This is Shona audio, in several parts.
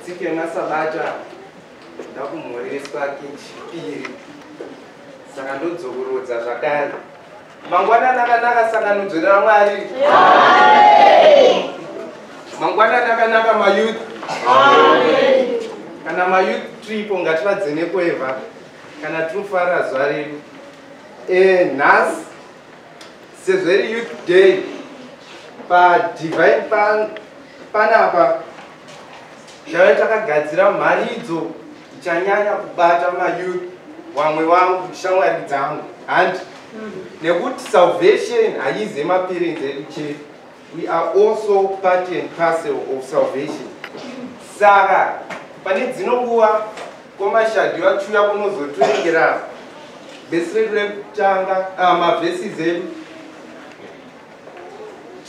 tsika yemasabata ndakumhoreswa kechipiri saka ndodzokorodza zvakare mangwana nakanaka sanganudzo ramwari mangwana nakanaka mayouth kana mayouth tripo ngativadzenekweva kana tofara zuva redu eh, nhasi sezveri youth day padivine pan, panapa tave takagadzira mharidzo ichanyanya kubata mayouth wamwe wangu shamwari dzangu handi mm. nekuti salvation haize mapirinzi edu chete We are also part and parcel of salvation. Saka pane dzino nguva komashadhi vachiuya kunozotorengera vhesi redu rekutanga ah, mavhesis edu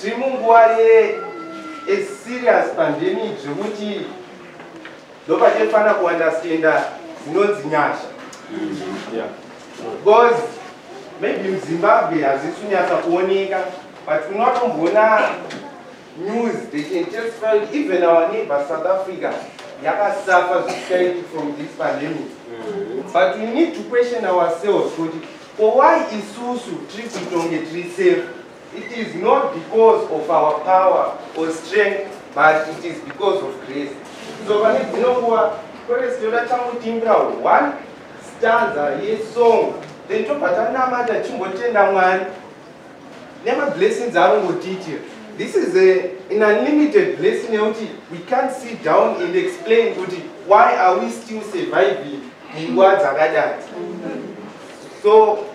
tiri munguva ye a serious pandemic zvekuti ndopachefana kuunderstanda zinonzi nyasha because maybe muzimbabwe hazisunyatsa kuoneka but unotomboona news they can testify even our neighbor south africa yakasafa zvichaiti from this pandemic but we need to question ourselves kuti ko why isusu tiri kutonge tiri safe It is not because of our power or strength but it is because of grace. So pane dzino nguva kwete sitoda tangotimbira one stanza yesong then tobva tanamata tichimbotenda mwari nemablessings anongotiitira this is a, an unlimited blessing yekuti we can't sit down and explain kuti why are we still surviving munguva dzakadati so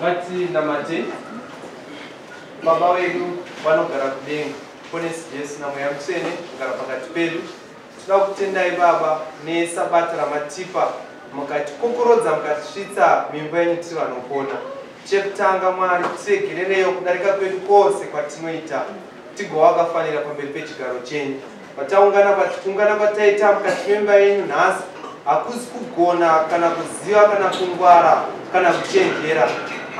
ngatinamate baba vedu vanogara kudenga ponesi jesu namweya mutsvene kugara pakati pedu tinoda kutendai baba nesabata ramatipa mukatikokorodza mukatisvitsa mimba yenyu tiri vanopona chekutanga mwari tiregerereyo kudarika kwedu kwose kwatinoita tigova vakafanira pamberi pechigaro chenyu Pataungana patikungana pataita mukati memba yenyu nhasi hakuzi kugona kana kuziva kana kungwara kana kuchenjera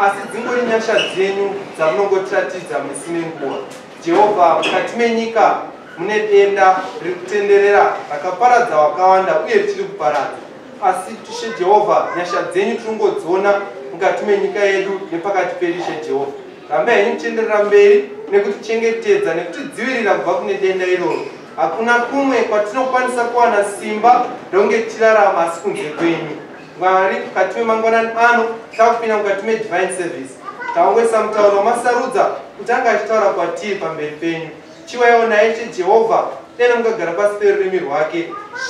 asi dzingori nyasha dzenyu dzamunongotiratidza misi nenguva jehovha mukati menyika mune denda riri kutenderera rakaparadza wakawanda uye richiri kuparadza asi tishe jehovha nyasha dzenyu tiringodziona mukati menyika yedu nepakati pedu ishe jehovha Rambai henyu muchienderera mberi nekutichengetedza nekutidzivirira kubva kune denda iroro. Hakuna kumwe kwatinokwanisa kuwana simba ndonge tichirarama asi kunze kwenyu Mwari. Mukati memangwanani ano takupinda mukati medivine service, taongoisa mutauro wamasarudza kuti anga achitaura kwatiri pamberi penyu. Chiwayawo naye cheJehovha dai mukagara pasi perurimi rwake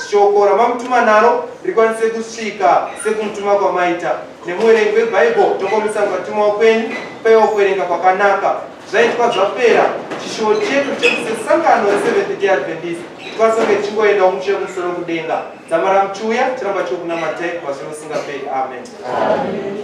shoko ramamutuma naro rikwanise kusvika sekumutuma kwamaita nemuverengi webhaibheri tokomisa mukatumwa kwenyu paiwa kuverenga kwakanaka zvaitwa zvapera chishuwo chedu chekusesangano reseventh day adventist twasange tichingoenda umuchiya kumusoro kudenga dzamara muchiuya tiramba chokunamatai kwazvino usingaperi amen, amen.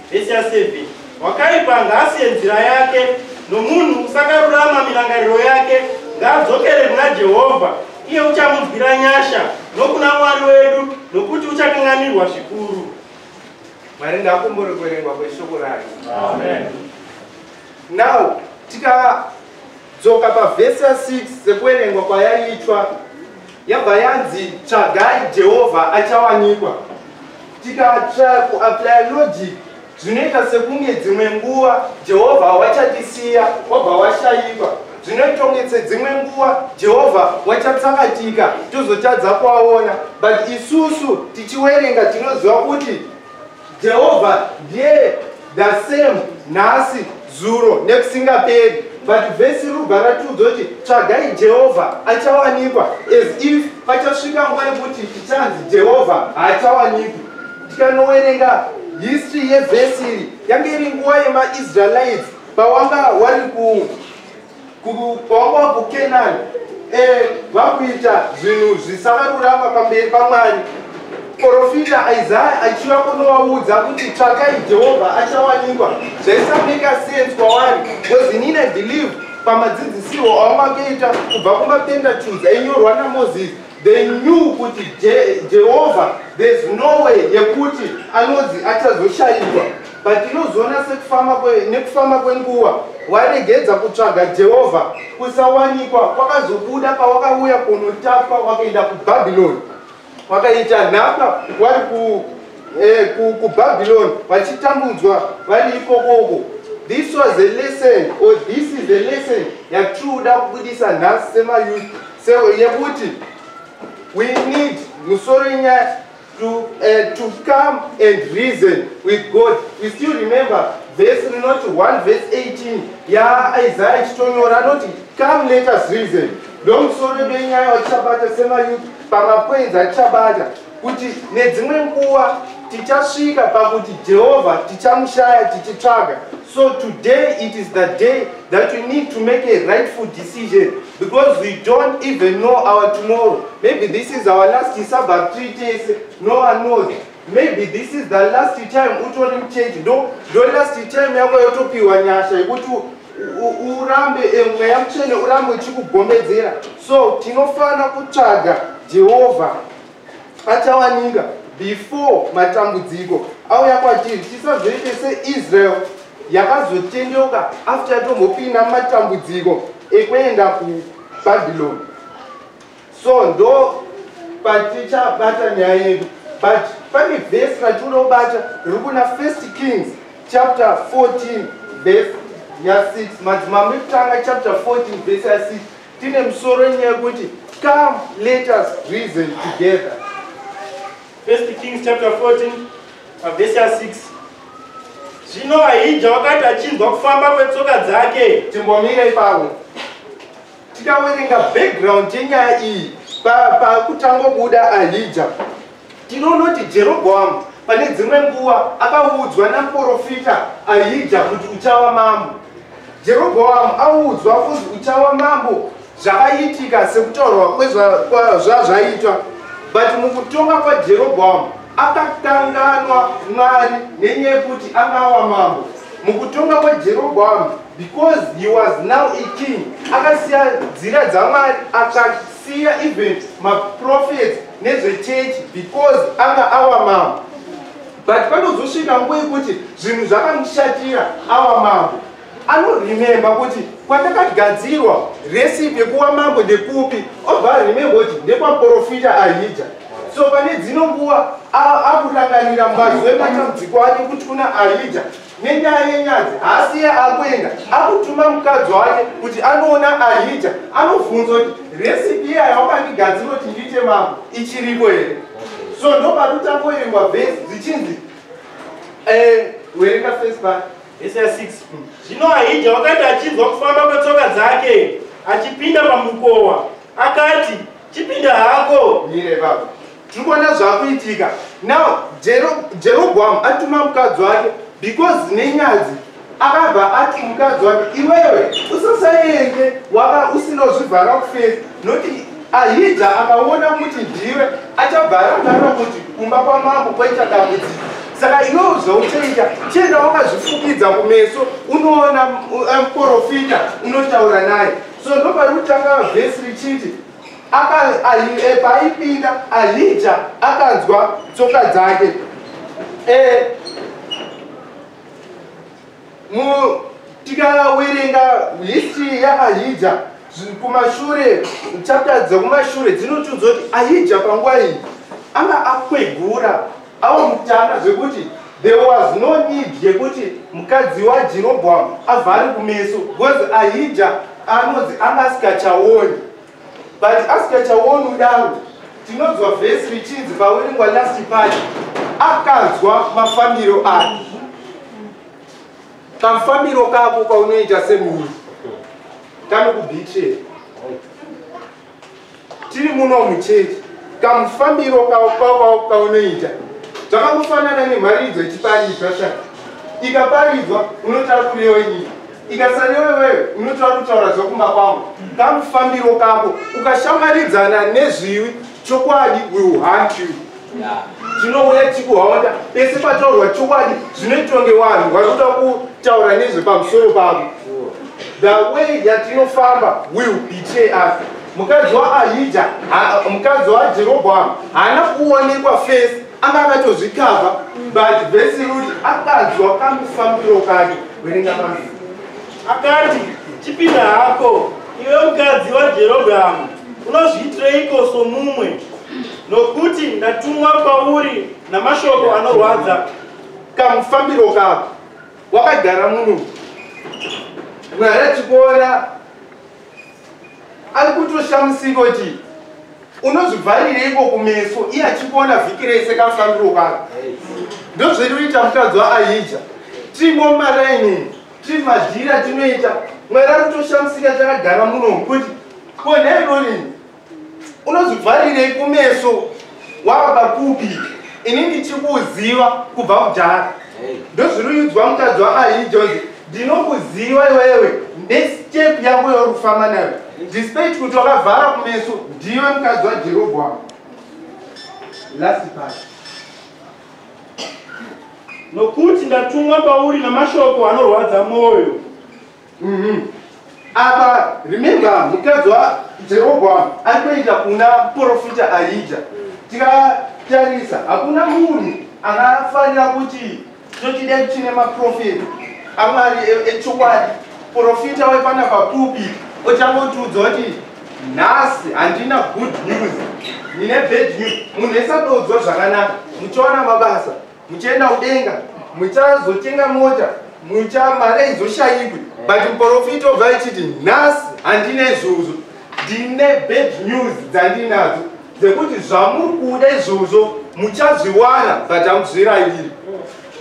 Vhesi ya 7 wakaipa ngaasiye nzira yake nomunhu usakarurama mirangariro yake ngaadzokere kuna Jehovha iye uchamunzwira nyasha nokuna Mwari wedu nokuti uchakanganirwa zvikuru. Mwari ngaakumbure kuverengwa kweshoko rake. Amen. Now tikadzoka pavhesi ya 6 sekuverengwa kwayaitwa yabva yanzi tsvagai Jehovha achawanikwa. Tikatya kuaplya logic zvinoita sekunge dzimwe nguva Jehovha wachatisiya wabva washaiva. Zvinoita kunge sedzimwe nguva Jehovha wachatsakatika tozotadza kuaona. But isusu tichiwerenga tinoziva kuti Jehovha ndiye the same nhasi zuro nekusingaperi but vhesi riri kubva ratiudza kuti tsvagai jehovha achawanikwa as if pachasvika nguva yekuti tichanzi jehovha haachawanikwi tikanowerenga history yevhesi iri yange iri nguva yemaisraelites pawanga wari ku kwava kukenani eh, vakuita zvinhu zvisakarurama pamberi pamwari profita isaya achiva kunovaudza kuti tsvakai jehovha achawanikwa zvaisameka sense kwavari bcause inini i believe pamadzidzisirwo avangakeita kubva kumapentatudzi ainyorwa namozisi They knew kuti Jehovha there's no way yekuti anonzi achazoshaikwa but tinozoona sekufamba nekufamba kwenguva waregedza kutsvaga Jehovha kusawanikwa kwakazobuda pawakauya kunotapwa wakaenda kubhabhiloni wakaita nhaka wari ku eh, kubabylon vachitambudzwa vari ikokoko this was a lesson or this is a lesson yatikuda kubudisa nhasi semayouth yekuti we need musoro yenyaya to, uh, to come and reason with god we still remember vhesi rinoti 1 vhesi 18 yaaisaya ichitonyora anoti come let us reason ndomusoro benyaya watichabata semayouth pamapoinzi atichabata kuti nedzimwe nguva tichasvika pakuti jehovha tichamushaya tichitsvaga so today it is the day that we need to make a rightful decision because we don't even know our tomorrow maybe this is our last sabbath three days no one knows maybe this is the last time utori muchechi ndo ndo last time yako yotopiwa nyasha yekuti urambe eh, mweya mutsvene urambe uchikugomedzera so tinofanira kutsvaga jehovha achawanika before matambudziko auya kwatiri tisazoite seisrael yakazotendeuka after yatombopinda matambudziko ekuenda kubhabhiloni so ndo patichabata nyaya yedu but pane vhesi ratinoda kubata riri kuna first kings chapter 14 vhesi ya6 madzimambo ekutanga chapter 14 vhesi ya6 tine musoro wenyaya yekuti come let us reason together first kings chapter 14 pavhesi ya 6 zvino ahija wakati achinzwa kufamba kwetsoka dzake timbomira ipapo tikawerenga background yenyaya iyi pakutangobuda ahija Tinonoti Jerobhoamu pane dzimwe nguva akaudzwa namuporofita Ahija kuti uchava mambo. Jerobhoamu audzwa kunzi uchava mambo zvakaitika sekutaurwa kwezvazvaitwa but mukutonga kwajerobhoamu akakanganwa mwari nenyaya yekuti anga ava mambo mukutonga kwajerobhoamu because he was now a king akasiya nzira dzamwari atsvaki Siya even maprophets nezvechurch because anga awa mambo but panozosvika nguva yekuti zvinhu zvakamushatira awa mambo anorememba kuti kwatakagadzirwa recipe kuwa mambo ndekupi obva arememba kuti ndekwaprofita ahija so pane dzino nguva akurangarira mbazi wematambudziko ake kuti kuna ahija Nenyaya yenyadzi haasi iye akuenda akutuma mukadzi wake kuti anoona ahija anobvunza kuti recipe iya yawakandigadzira kuti ndiite mambo ichiriko here so ndopakutangoerengwa vhesi dzichinzi eh, werenga first part vhesi ya 6 hmm. zvino ahija wakati achinzwa kufamba kwetsoka dzake achipinda pamukowa akati chipinda hako mire baba tikuona zvakuitika now jerobhoamu atuma mukadzi wake because nenyadzi akabva ati mukadzi wake iwewe usasaende wava usinozvivhara kufesi noti ahija akaona kuti ndiwe achabva arangana kuti kumba kwamambo kwaita dambudziko saka iwewo zvauchaita chienda wakazvifukidza kumeso unoona muporofita unotaura naye so ndopari kutanga vhesi richiti Eh, paaipinda ahija akanzwa tsoka dzake eh, tikawerenga history yaahija kumashure chapter dzekumashure dzinotiudza kuti ahija panguva iyi anga akwegura Avo mutana zvekuti there was no need yekuti mukadzi waJerobhoamu avhari kumeso because Ahija anonzi anga asikachaoni but asikachaoni kudaro tinonzwa vhesi richinzi paweringwa last party akanzwa mafambiro ake kamfambiro kako kaunoita semunhu kanokubhitrera tiri muno muchechi kamufambiro kaunoita zvakangofanana nemharidzo ichiparidzwa sha ikaparidzwa unotaura kurewa nyika ikasarewa iwewe unotora kutaura zvekumba kwangu kamufambiro kako ukashamaridzana nezviwi chokwadi will hunt you tinouya tichikuhaonda pese pataurwa chokwadi zvinoitwa ngevanhu vari kuda kutaura nezvepamusoro pavo the way yatinofamba will betray us mukadzi waahija mukadzi wajerobhoamu haana kuonekwa fesi anga akatozvikava but vesi ruti akanzwa kamufambiro kake werenga pamii akati chipinda hako iwe mukadzi wajerobhoamu unozviitireiko somumwe Nokuti ndatumwa kwauri namashoko anorwadza kamufambiro kako wakagara muno. Mwari achikuona ari kutoshamusiko ti unozvivharireiko kumeso iye achikuona vhiki rese kamufambiro kako ndozvinoita mukadzi waahija timo maraini timadhira tinoita mwari ari kutoshamusika takagara muno kuti ko nhairori unozvivharirei kumeso wava kupi ini ndichikuziva kubva kudhara ndozviruyudzwa mukadzi waahijoni ndinokuziva iwewe nestep yako yorufamba nayo despite kuti wakavhara kumeso ndiwe mukadzi wajeroboamu last part nokuti ndatumwa pauri namashoko anorwadza mwoyo Mhm. Apa remember mukadzi waJerobhoamu aitoita kuna porofita Ahija. Tikatarisa hakuna munhu akafanira kuti tochide chine maprofita aMwari e- echokwadi. Porofita wepana papupi ochangotiudza kuti nhasi handina good news. Ndine bad news. Munhu esadodzwa zvakanaka muchiona mabasa. muchaenda kudenga muchazotenga mota mucha mari aizoshayikwi but muporofiti obva achiti nhasi handina izvozvo ndine bad news dzandinadzo dzekuti zvamuri kuda izvozvo muchazviwana but hamuzvirayiri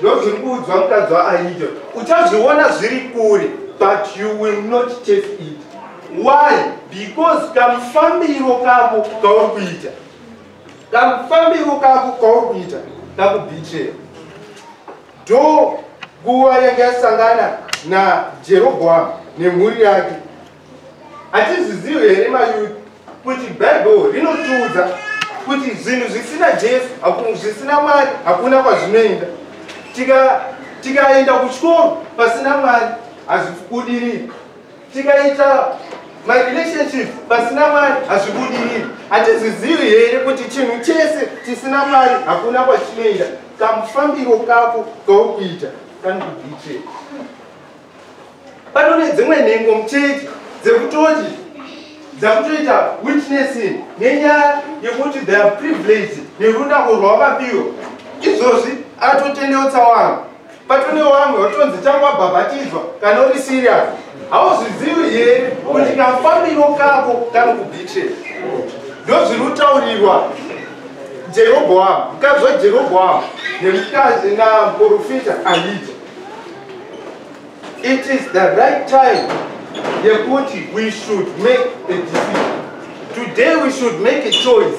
ndozviri kuudzwa mukadzi waaida uchazviona zviri kure but you will not take it why because kamufambiro kako kauri kuita Kamufambiro kako kauri kuita kakubitreya. Do nguva yanga yasangana naJerobhoamu nemhuri yake. Hatizvizivi here mayuti kuti Bhaibheri rinotiudza kuti zvinhu zvisina Jesu, zvisina Mwari hakuna kwazvinoenda. Tikaenda kuchikoro pasina Mwari hazvikudiriki. tikaita marelationship pasina mwari hazvibudiriri hatizizivi here kuti chinhu chese chisina mwari hakuna kwachinoenda kamufambiro kako kaukuita kanikubiche pano nedzimwe nhengo muchechi dzekutoti dzakutoita witnessing nenyaya yekuti they are privileged nerunako rwavapiro izvozvi atotendeutsa wangu Patune wamwe watonzi tangu wabhabhatidzwa kana uri serious. Hauzvizivi here kuti kafambiro kako kanokubitira. Ndozviri kutaurirwa Jeroboamu, mukadzi waJeroboamu nemukadzi namuporofita Ahija. It is the right time yekuti we should make a decision. Today we should make a choice.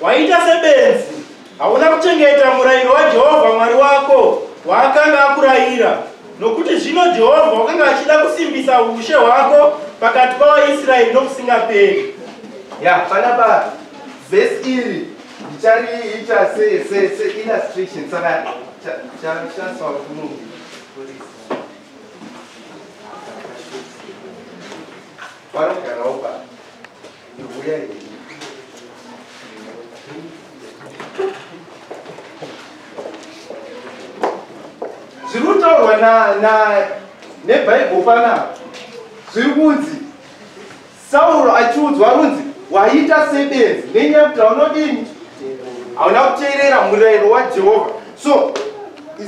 Waita sebenzi, hauna kuchengeta murayiro waJehovha Mwari wako waakanga akurayira, nokuti zvino Jehovha wakanga achida kusimbisa ushe hwako pakati pavaIsraeri nokusingaperi. Ya, panapa vhesi iri ndichariita seillustration saka chasawa kuti munhu Para o canal, para. zviri kutaurwa nebhaibheri panapa zviri kunzi sauro achiudzwa runzi waita sebenzi nenyaya kuti haunodini hauna kuteerera murayiro wajehovha so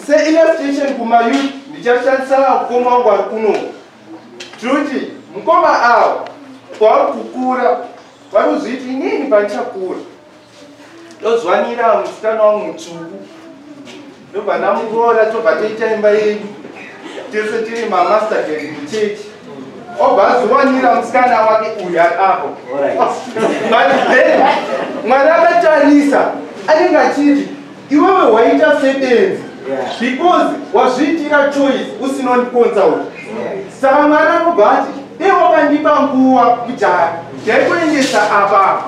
seillustration kumayouth ndichashandisa mukoma wangu ari kunoku Judy, mukoma awo kwauri kukura vari kuzviti inini pandichakura ndozwanira musikana wangu mutsvuku ndobva ndamuroora tobva toita imba yedu tese tiri mamaster ged muchechi obva azowanira musikana wake uyu ari apo but then mwari akatarisa anenge achiti iwewe waita sebenzi because wazviitira choice usinondiconsaut saka mwari anobva ati dei wakandipa nguva kudhara ndaikuendesa apapa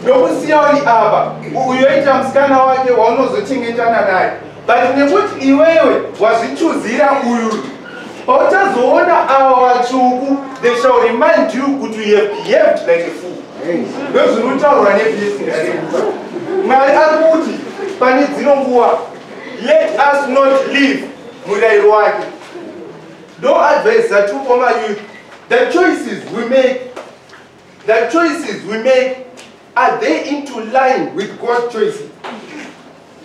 ndokusiya uri apa uyoita musikana wake waunozochengetana naye but nekuti iwewe wazvichuzira uyu Pautazoona ava vatsvuku, they shall remind you kuti you have behaved like a fool. Ndozvinotaurwa neblessing arimuka. Mwari ari kuti pane dzino nguva, let us not leave murayiro wake. No advice that you former youth, the choices we make, the choices we make Are they into line with God's choice?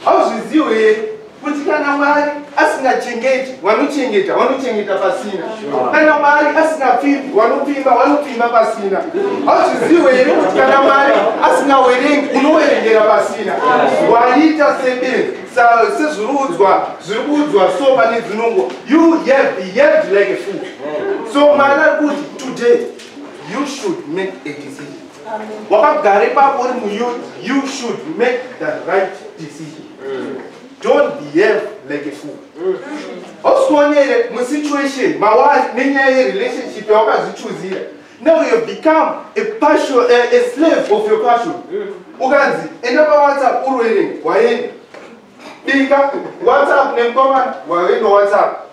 Hauzviziwe here kuti kana Mwari asingachengeti wanochengeta wanochengeta pasina kana Mwari asingapfimbi wanopfimba wanopfimba pasina hauzviziwe here kuti kana Mwari asingawerengi unowerengera pasina waita sebenzi sezviruudzwa zviri kuudzwa so pane dzinongo you have behaved like a fool so Mwari ari kuti today you should make a decision wakagara ipapo uri muyouth you should make the right decision mm. don't behave like a fool mm. ausikuonere musituation mawari nenyaya yerelationship yawakazichuzira now you have become a, passion, a, a slave of your passion mm. ukanzi enda pawhatsapp urwere waenda bika whatsapp nemkomana waenda whatsapp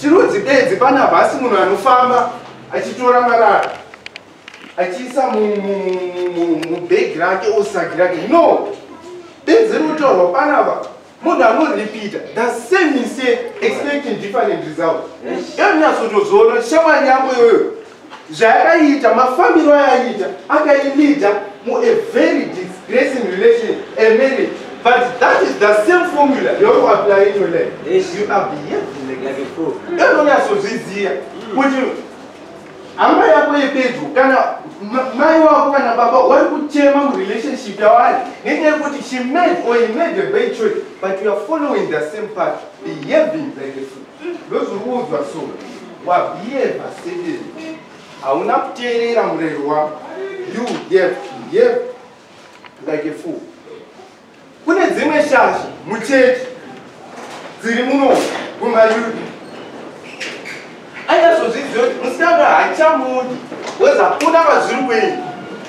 chirudzi bedzi pana bhasi munhu anofamba achitora marara achiisa mubhegi rake osagi rake no bedzi rinotorwa panapa munhu anoripita the same mistake expecting different result yonyasotozoona shamwari yangu iyoyo zvayakaita mafambiro ayaiita akailida mu a very disgracing relation a marriage but that is the same formula yauri kuapply in your life you are behaving like like a fool anonyatsozviziva kuti hama yako yepedyo kana mai wako kana baba wari kuchema murelationship yavari nenyaya yekuti she made or he made a bad choice but you are following the same path behaving like a fool ndozvikuudzwa so wabhiyeva sederi hauna kuteerera murero wako you behave behave like a fool kune dzimwe shasha muchechi dziri muno kumayuda anyazozviziva kuti musikana haachamudi weza kuna vazviri kwenyu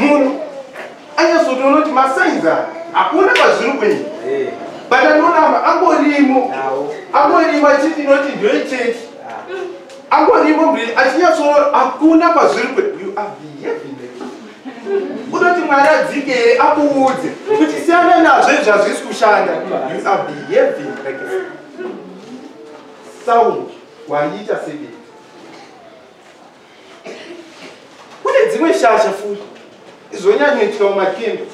munhu anyazotoona kuti masainzi aya hakuona kwazviri kuenda eh. but anoramba angorimo angorimo achiti inoti ndoicheti ah. angorimo mbiri achinyatsoona hakuna kwazviri kuenda you are behaving unoti mwari adzike here akuudze kuti siyana nazvo izvi hazvisi kushanda you are behaving like sound waiita sebei kune dzimwe shasha futi zvonyanyoitwa mumakendo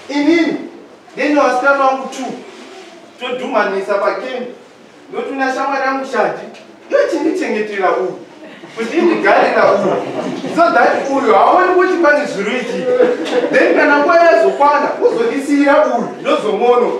inini ndine vasikana vangu two todhumanisa pakendo ndotuna shamwari yangu shadi yochindichengetera uyu kuti indigarira uyu so that uyu haoni kuti pane zviroitii then kana nguva yazokwana uzondisiyira uyu ndozomono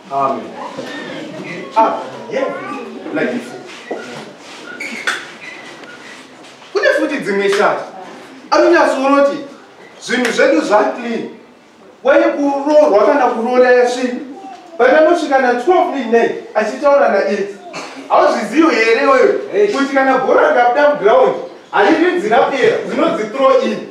Amen. Ah, yeah. Like this. Kune futi dzimwe shati anonyatsoonoti zvinhu zvedu zvaclean waye kuroorwa kana kuroora yasvii patanosvika na 12 midnight achitaura na it hauzvizivo here wewe kuti kana bhora rikabuda muground hariridzi rapera dzinodzithrow in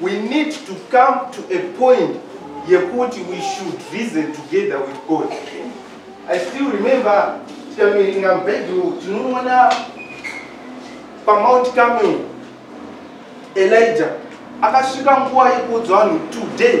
We need to come to a point yekuti we should reason together with God. I still remember tikamiringa mubhedhuru tinoona pamount camel elijah akasvika nguva yekuudza vanhu today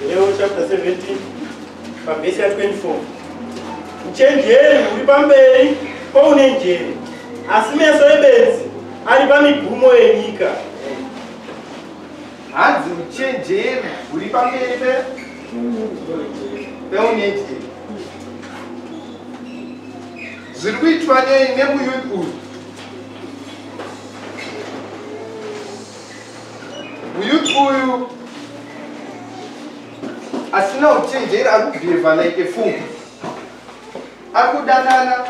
Nehemiah chapter 17 pavhesi ya 24 uchenjeri huri pamberi poune njere asi meso ebenzi ari pamigumo yenyika hanzi uchenjeri huri pamberi peune njere zviri kuitwa nei nemuyuth uyu Muyuti uyu asina uchenjeri ari kubhihevha like a fool. Ari kudanana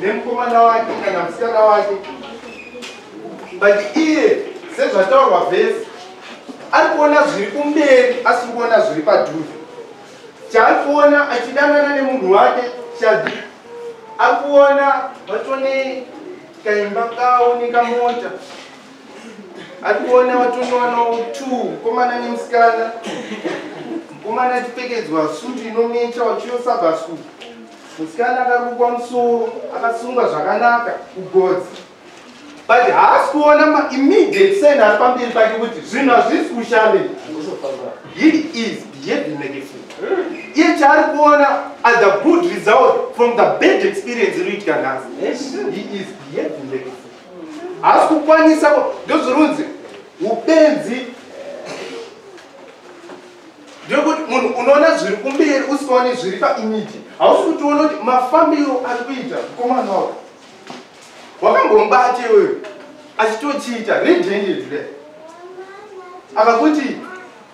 nemukomana wake kana musikana wake. But iye sezvataurwa vhesi ari kuona zviri kumberi asiri kuona zviri padhuze. Chaari kuona achidanana nemunhu wake shadi akuona vatone kaimba kawo nekamota atikuona watonowanawo t mukomana nemusikana mukomana atipfekedzwa sutu inomecha wachiyosabasuku musikana akarukwa musoro akasungwa zvakanaka kugodzi but haasi kuona maimmediate sen ari pamberi pake kuti zvinhu hazvisi kushande he is behaving like a fool iye chaari kuona as a good result from the bad experience iri kuitika nhasi he is behaving like a fool haasi kukwanisa ndozvirunzi upenzi ndekuti munhu unoona zviri kumberi usikaoni zviri paimiti hausi kuti uona kuti mafambiro ari kuita mukomana wako wakambombate iweyo achitochiita redendedre akakuti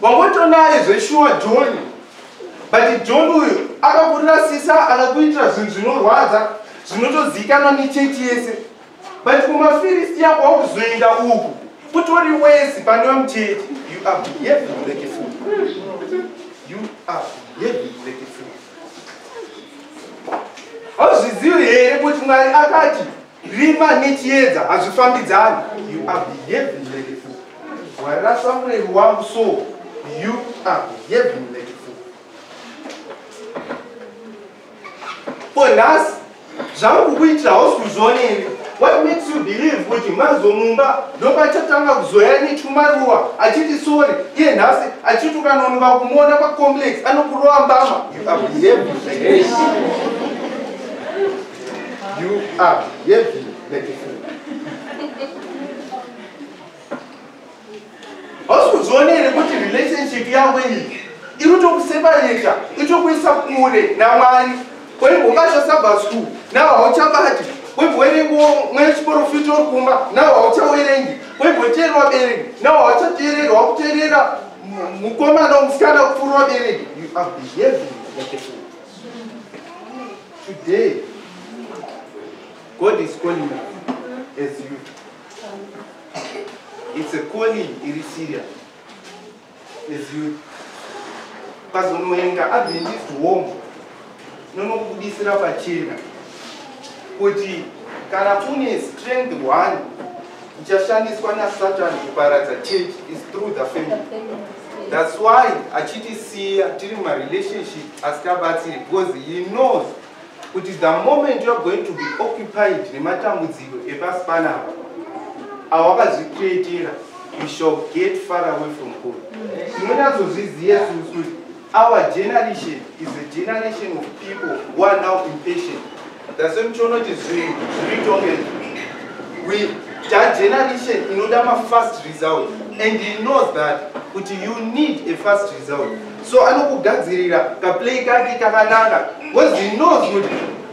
Wangotonaye zveshuwa John. But John uyu akakurasisa akakuitira zvinhu zvinorwadza zvinotozikanwa nechechi yese. But kumafirisi yako wakuzoenda uku kutori wesi pane vamuchechi. You are behaving like a fool. You are behaving like a fool. Hauzvizivi here kuti Mwari akati Rima nechiedza hazvifambidzani. You are behaving like a fool. Warasa mureri wangu so you are behaving like a fool. For nhasi zvangu kukuitira hausi kuzvioneri. What makes you believe kuti mazomumba ndopachatanga kuzoya netumaruwa achiti sorry iye nhasi achiti ukanonoka kumuona pacomplex anokurova mbama. You are behaving like a fool. You are heavy beautiful. Hausi kuzoona here kuti relationship yavo iyi iri kutokusepareta itokuisa kure naMwari kwaivo ungasha Sabbath school navo hauchabati kwaivo werengo mwe chiporofita uri kumba navo hauchawerengi kwaivo teerera wabereki navo hauchateereri wakuteerera mukomana musikana kupfuura wabereki you are behaving like a fool Today, God is calling you as you. It's a calling iri serious as you. Pazonoenda Adventist home nonokubudisira pachena kuti kana une strength one ichashandiswa nasatani kuparadza church is through the family thats why achitisiya tiri marelationship asikabatsiri because he knows kuti the moment youare going to be occupied nematambudziko epasi panapa awakazvikreatira you shall get far away from god tinonyatsozviziva susu Our generation is a generation of people who are now impatient. That's why muchiona kuti zvinhu zviri tongeni. We that generation inoda ma fast result and he knows that kuti you need a fast result. So anokugadzirira ka play kake kakanaka because he knows kuti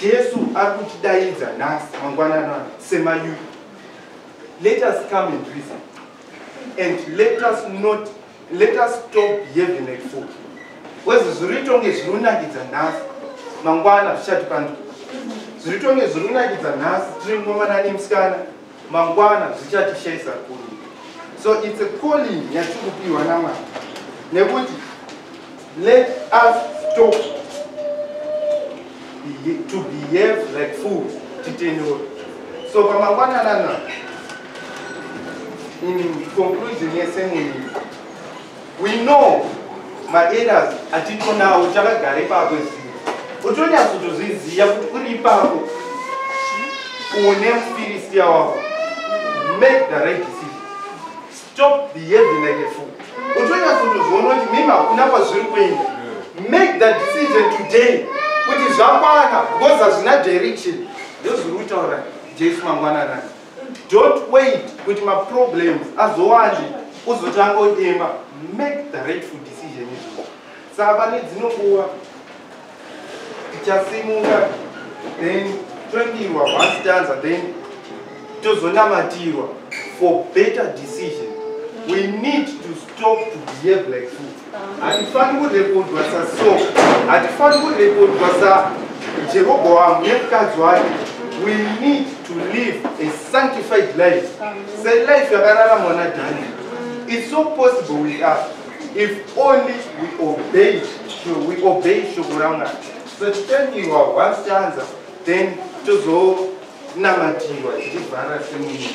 Jesu ari kutidaidza nhasi mangwanana semayuth. Let us come and reason and let us not let us stop behaving like fool. Kwezi zviri tonge zviri kunakidza nhasi mangwana zvichatipanduka. Zviri tonge zviri kunakidza nhasi tiri mukomana nemusikana mangwana zvichatishaisa kuri so its a calling yatiri kupiwa namwari nekuti let us stop to behave like fools titendewo so pamangwana nana in conclusion yesemuni We know maeras atiko nawo takagara ipapo izii utonyatsotozviziva kuti uri ipapo une mufiristiya wako make the right decision stop behaving like a fool utonyatsotozviona kuti mimi hakuna kwazviri kuenda make the decision today kuti zvakwana because hazvina direction ndozviri kutaura jesu mangwananani Don't wait kuti ma problems azowande uzotanga udemba. Make the rightful decision izvo. Saka pane dzino nguva tichasimuka then tondirwa once tanza then tozonamatirwa for better decision. We need to stop to behave like fools. Hatifani kurekodwa saSo, hatifani kurekodwa saJerobhoamu nemukadzi wake. We need to live a sanctified life. Selife yakararamwa naDhani. It's so possible with us if only we obey, we obey shoko raMwari. So titaniwa once tanza, then tozonamatiwa tichivhara semunhu.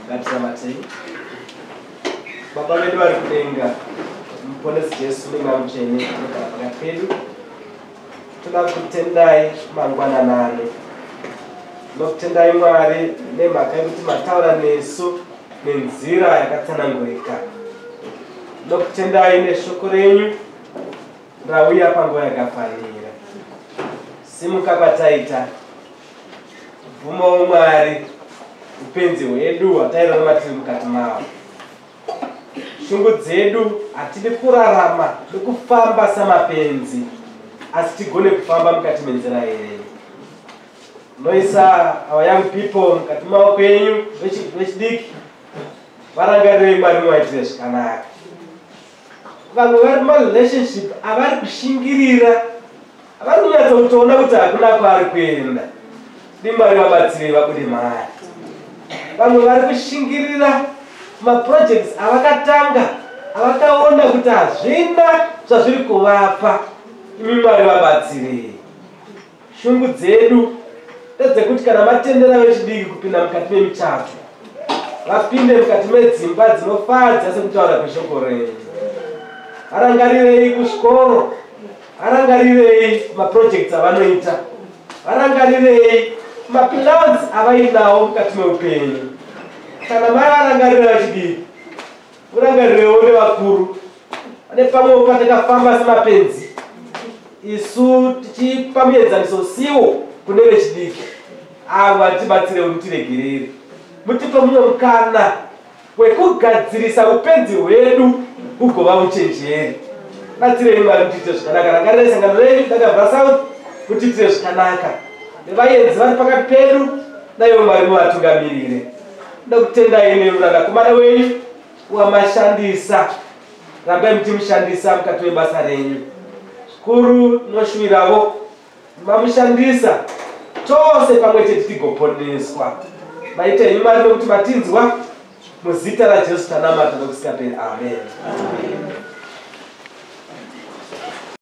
Ngatinamatei. Baba vedu vari kudenga, muponesi Jesu nemweya mutsvene anogara pakati pedu. Toda kutendai mangwanana ano. Ndokutendai Mwari nemhaka yekuti mataura nesu nenzira yakatsanangurika. Ndokutendai neshoko renyu rauya panguva yakafanira. Simuka kwataita bvumawo mwari upenzi hwedu hwatairarama tiri mukati mavo shungu dzedu hatidi kurarama nekufamba samapenzi asi tigone kufamba mukati menzira yenyu noisa our young people mukati maoko enyu vechidiki varangarirei mwari muvaitire zvakanaka vamwe vari marelationship avari kushingirira Vari kunyatsa kutoona kuti hakuna kwaari kuenda. Dai Mwari vabatsirei vabude mari. Vamwe vari kushingirira maprojects avakatanga avakaona kuti hazvina zvazviri kuvapa. Imi Mwari vabatsirei. Shungu dzedu ndedzekuti kana matendera vechidiki kupinda mukati memichato vapinde mukati medzimba dzinofadza sekutaura kweshoko renyu. Varangarirei kuzvikoro varangarirei maprojects avanoita varangarirei maplans avainawo mukati meupenyu kana mai varangarira vachidii murangarirewo nevakuru ane pamwewo patakafamba semapenzi isu tichipa muenzaniso siwo kune vechidiki avo vatibatsirewo mutiregerere mutipe mumwe mukana hwekugadzirisa upenzi hwedu hugova uchenjeri batsirei mwari kuti tiite zvakanaka rangarirei sangano renyu dakabva south kuti tiite zvakanaka nevaenzi vari pakati pedu daiwo mwari muvatungamirire da kutendai neuranakomana wenyu wamashandisa rambai muchimushandisa mukati webasa renyu zvikuru noshuwiravo mamushandisa tose pamwe chete tigoponeswa maita henyu mari nokuti matinzwa muzita rajesu tanamata nokusingaperi amen, amen.